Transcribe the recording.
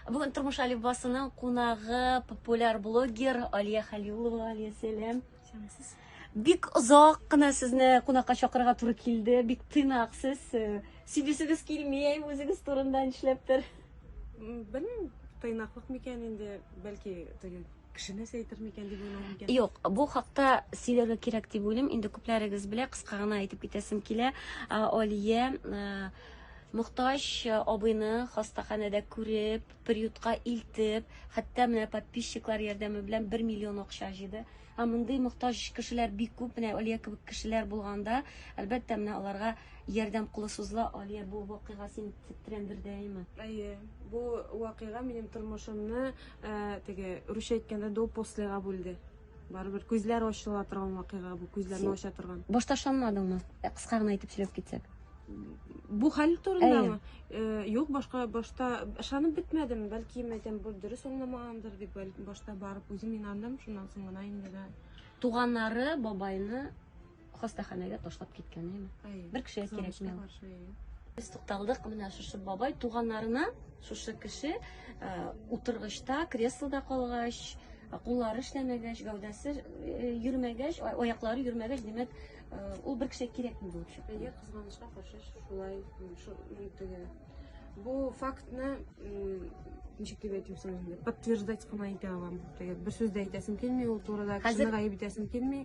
Бүген Тормыш Алибасының кунагы популяр блогер Алия Халилова. Алия, сәлам. Сәламсез. Бик озак кына сезне кунакка чакырырга туры килде. Бик тыйнак сез. Э, Сөйләшегез килми, үзегез турында нишләптер? Белмим, тыйнаклык микән инде, бәлки теге кешене әйтер микән дип уйлау микән? Юк, бу хакта сөйләргә кирәк дип уйлыйм. Инде күпләрегез белә, кыска гына әйтеп китәсем килә. Алия Мохтаҗ э, абыйны хастаханәдә күреп, приютка илтеп, хәтта менә подписчиклар ярдәме белән 1 миллион акча җыйды. Ә мондый мохтаҗ кешеләр бик күп, менә Алия кебек кешеләр булганда, әлбәттә, менә аларга ярдәм кулы сузыла. Алия, бу вакыйга син тетрәндердеме? Әйе, бу вакыйга минем тормышымны, э, теге, русча әйткәндә, до послега бүлде. Барыбер күзләр ачыла торган вакыйга бу, күзләрне ача торган. Башта ышанмадыңмы? Э, Кыска гына әйтеп сөйләп китсәк. Бу хәл турындамы? Э, Юк, башка башта ышанып бетмәдем. Бәлки, мәйтәм, бу дөрес аңламагандыр дип, бәлки башта барып үзем инандым, шуннан соң гына инде дә. Туганнары бабайны Хастаханәгә ташлап киткән, әйме? Бер кешегә кирәкми. Без тукталдык менә шушы бабай туганнарына, шушы кеше э, утыргычта, креслода калгач, куллары эшләмәгәч, гәүдәсе э, йөрмәгәч, аяклары йөрмәгәч, димәк, э, ул бер кешегә кирәкми булып чыкты. Әйе, кызганычка каршы шулай шулай Бу фактны ничек дип әйтим соң инде, подтверждать кына итә алам. Бер сүз дә әйтәсем килми, ул турыда кешене гаеп итәсем килми.